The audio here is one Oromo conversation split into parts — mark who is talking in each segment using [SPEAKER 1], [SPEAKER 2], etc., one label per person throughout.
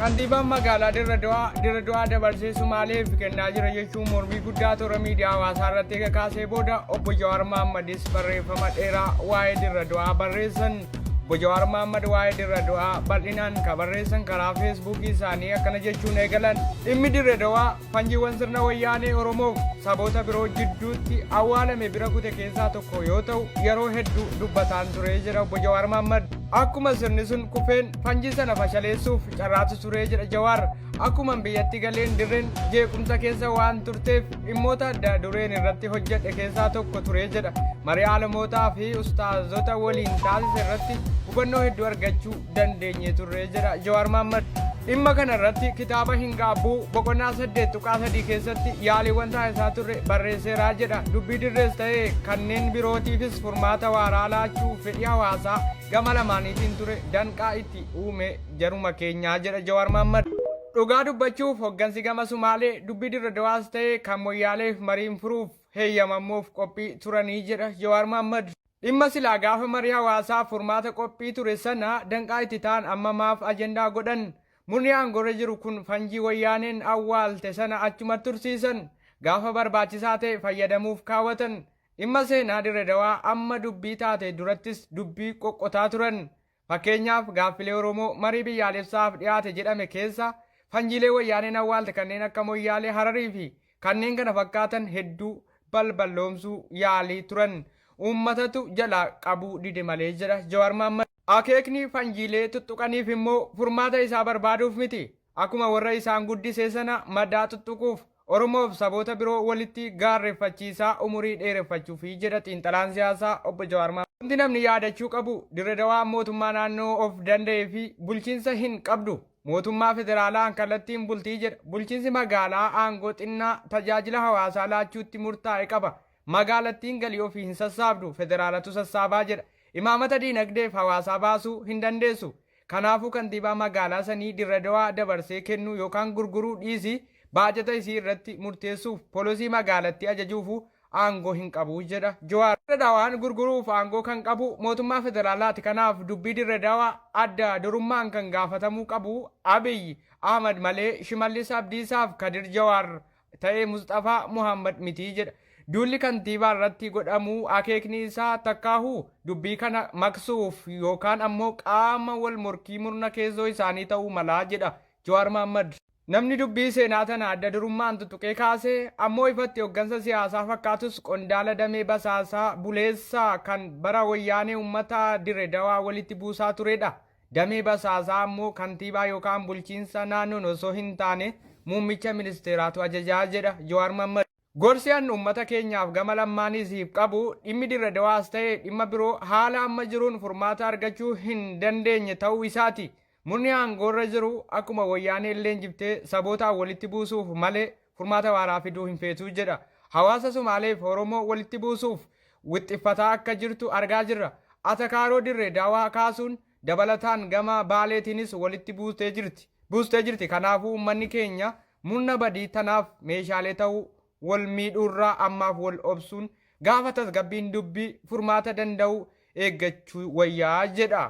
[SPEAKER 1] Kantiibaan magaalaa Dirre Dawaa Dirre Dawaa dabarsee Sumaaleef kennaa jira jechuun mormii guddaa toora miidiyaa hawaasaa irratti eega kaasee booda obbo Jawaar Mahammadis barreeffama dheeraa waa'ee Dirre Dawaa barreessan. Obbo Jawaar Mahammad waa'ee Dirre Dawaa bal'inaan ka barreessan karaa feesbuukii isaanii akkana jechuun eegalan. Dhimmi Dirre Dawaa Fanjiiwwan sirna wayyaanee Oromoof saboota biroo jidduutti awwaalame bira kute keessaa tokko yoo ta'u yeroo hedduu dubbataan turee jedha obbo Jawaar Mahaammad. Akkuma sirni sun kufeen fanjii sana fashaleessuuf carraatu turee jedha Jawaar. Akkuman biyyatti galeen dirreen jeequmsa keessa waan turteef dhimmoota adda dureen irratti hojjedhe keessaa tokko turee jedha. Marii alamootaa fi ustaazota waliin taasise irratti hubannoo hedduu argachuu dandeenye turre jedha Jawaar Mahaammad. Dhimma kana irratti kitaaba hin gaabbuu boqonnaa saddeet tuqaa sadii keessatti yaaliiwwan taasisaa turre barreesseeraa jedha. Dubbii dirrees ta'e kanneen birootiifis furmaata waaraa laachuu fedhii hawaasaa gama lamaaniitiin ture danqaa itti uume jaruma keenyaa jedha Jawaar Mahaammad. Dhugaa dubbachuuf hoggansi gama Sumaalee dubbii dirre dawaas ta'e kan moyyaaleef mariin furuuf heeyyamamuuf qophii turanii jedha Jawaar Mahaammad. Dhimma silaa gaafa marii hawaasaaf furmaata qophii ture sana danqaa itti ta'an amma maaf ajandaa godhan? Murni aangoorra jiru kun fanjii wayyaaneen awwaalte sana achumatti tursiisan. Gaafa barbaachisaa ta'e fayyadamuuf kaawwatan. Dhimma seenaa Dirre Dawaa amma dubbii taate durattis dubbii qoqqotaa turan. Fakkeenyaaf gaaffilee Oromoo marii biyyaalessaaf dhiyaate jedhame keessa fanjiilee wayyaaneen awwaalte kanneen akka Moyyaalee, Hararii fi kanneen kana fakkaatan hedduu balballoomsuu yaalii turan. Uummatatu jalaa qabuu dide malee jedha Jawaar Mahaammad. Akeekni fanjiilee tuttuqaniif immoo furmaata isaa barbaaduuf miti. Akkuma warra isaan guddisee sana madaa xuxxuquuf, Oromoof saboota biroo walitti gaarreffachiisaa umurii dheereffachuufi jedha xiinxalaan siyaasaa Obbo Jawaar Mahaammad. Wanti namni yaadachuu qabu, Dirre Dawaan mootummaa naannoo of danda'eefi bulchiinsa hin qabdu. Mootummaa federaalaan kallattiin bulti jedha. Bulchiinsi magaalaa aangoo xinnaa tajaajila hawaasaa laachuutti murtaa'e qaba. Magaalattiin galii ofii hin sassaabdu, federaalatu sassaabaa jedha. Imaamata diinagdeef hawaasaa baasuu hin dandeessu. Kanaafuu kantiibaa magaalaa sanii Dirredawaa dabarsee kennuu yookaan gurguruu dhiisii baajata isii irratti murteessuuf polosii magaalattii ajajuufuu aangoo hin qabu jedha Jawaar. Dirredawaan gurguruuf aangoo kan qabu mootummaa federaalaati kanaaf dubbii Dirredawaa adda durummaan kan gaafatamuu qabu Abiy Ahmad malee Shimallis Abdiisaaf Kadir Jawaar ta'e Musxafaa Muhammad mitii jedha. Duulli kantiibaa irratti godhamu akeekni isaa takkaahu dubbii kana maqsuuf yookaan ammoo qaama wal morkii murna keessoo isaanii ta'uu malaa jedha Jawaar Mahaammad. Namni dubbii seenaa tana adda durummaan tutuqee kaase ammoo ifatti hoggansa siyaasaa fakkaatus qondaala damee basaasaa buleessaa kan bara Wayyaanee ummata Dire Dawaa walitti buusaa turedha. Damee basaasaa ammoo kantiibaa yookaan bulchiinsa naannoon osoo hin taane muummicha ministeeraatu ajajaa jedha Jawaar Mammad. Gorsi an ummata keenyaaf gama lammaaniisiif qabu dhimmi Dirre Dawaas ta'e dhimma biroo haala amma jiruun furmaata argachuu hin dandeenye ta'uu isaati. Murni aangoorra jiru akkuma Woyyaaneelleen jibbtee sabootaan walitti buusuuf malee furmaata waaraa fiduu hin feetu jedha. Hawaasa Sumaaleef Oromoo walitti buusuuf wixxiffataa akka jirtu argaa jirra. Atakaaroo Dirre Dawaa kaasuun dabalataan gama Baaleetiinis walitti buustee jirti. Buustee jirti. Kanaafuu uummanni keenya murna badii tanaaf meeshaalee ta'uu wal miidhuurraa ammaaf wal obsuun gaafa tasgabbiin dubbii furmaata danda'u eeggachuu wayyaa jedha.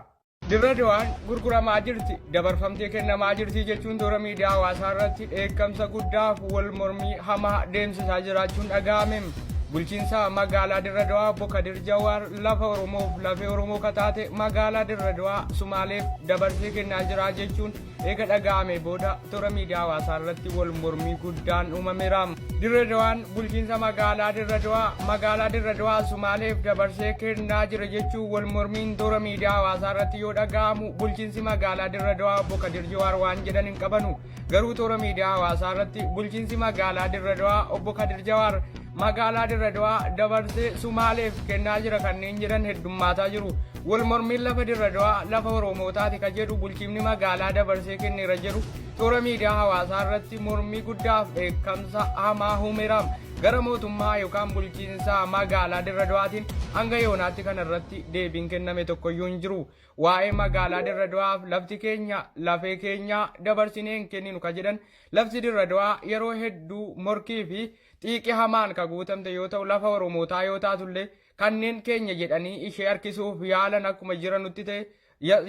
[SPEAKER 1] Dirre Dawaan gurguramaa jirti, dabarfamtee kennamaa jirti jechuun toora miidiyaa hawaasaa irratti dheekkamsa guddaaf wal mormii hamaa deemsisaa jiraachuun dhaga'ame. Bulchiinsa magaalaa Dirre Dawaa obbo Kadir Jawaar lafa Oromoof lafee Oromoo kataate magaalaa Dirre Dawaa Sumaaleef dabarsee kennaa jira jechuun eega dhaga'amee booda toora miidiyaa hawaasaa irratti wal mormii guddaan uumameera. Dirre Dawaan bulchiinsa magaalaa Dirre Dawaa magaalaa Dirre Dawaa Sumaaleef dabarsee kennaa jira jechuun wal mormiin toora miidiyaa hawaasaa irratti yoo dhaga'amu bulchiinsi magaalaa Dirre Dawaa obbo Kadir Jawaar waan jedhan hin qabanu. Garuu toora miidiyaa hawaasaa irratti bulchiinsi magaalaa Dirre Dawaa obbo Kadir Jawaar magaalaa Dirre Dawaa dabarsee Sumaaleef kennaa jira kanneen jedhan heddummaataa jiru. Wal mormiin lafa Dirre Dawaa lafa Oromootaati ka jedhu bulchiinni magaalaa dabarsee kenneera jedhu toora miidiyaa hawaasaa irratti mormii guddaaf dheekkamsa hamaa humeera. Gara mootummaa yookaan bulchiinsa magaalaa Dirre Dawaatiin hanga yoonaatti kana irratti deebiin kenname tokkoyyuu hin jiru. Waa'ee magaalaa Dirre Dawaaf lafti keenya lafee keenya dabarsinee hin kenninu ka jedhan lafti Dirre Dawaa yeroo hedduu morkii fi Xiiqi hamaan ka guutamte yoo ta'u lafa Oromootaa yoo taatullee kanneen keenya jedhanii ishee harkisuuf yaalan akkuma jiranutti ta'e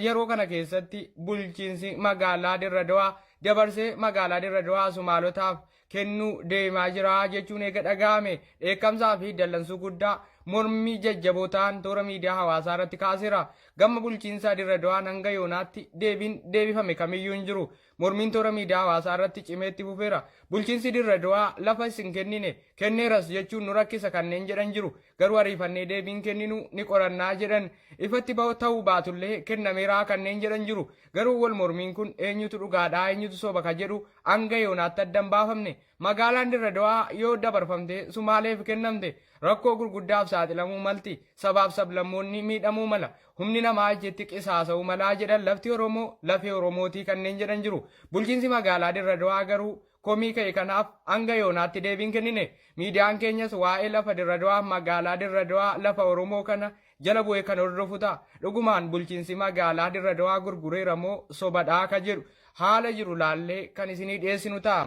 [SPEAKER 1] yeroo kana keessatti bulchiinsi magaalaa Dirra Dawaa dabarsee magaalaa Dirra Dawaa Sumaalotaaf kennuu deemaa jira jechuun eega dhaga'ame dheekkamsaa fi dallansuu guddaa mormii jajjaboo ta'an toora miidiyaa hawaasaa irratti kaaseera. Gama bulchiinsa Dirra Dawaan hanga yoonaatti deebiin deebifame kamiyyuu hin jiru. Mormiin toora miidiyaa hawaasaa irratti cimee itti fufeera. Bulchiinsi Dirre Dawaa lafa is hin kennine, kenneeras jechuun nu rakkisa kanneen jedhan jiru. Garuu ariifannee deebii hin kenninu, ni qorannaa jedhan. Ifatti bahu ta'uu baatullee kennameera kanneen jedhan jiru. Garuu wal mormiin kun eenyutu dhugaadha, eenyutu soba ka jedhu hanga yoonaatti adda hin baafamne. Magaalaan Dirre Dawaa yoo dabarfamtee Sumaaleef kennamte rakkoo gurguddaaf saaxilamuu malti. Sabaaf sablammoonni miidhamuu mala. Humni namaa achitti qisaasa'uu malaa jedhan lafti Oromoo lafee Oromootii kanneen jedhan jiru. Bulchiinsi magaalaa Dirre Dawaa garuu komii ka'e kanaaf hanga yoonaatti deebii hin kennine. Miidiyaan keenyas waa'ee lafa Dirre Dawaaf magaalaa Dirre Dawaa lafa Oromoo kana jala bu'ee kan hordofu ta'a. Dhugumaan bulchiinsi magaalaa Dirre Dawaa gurgureera moo sobadhaa ka jedhu haala jiru laallee kan isinii dhiyeessinu ta'a.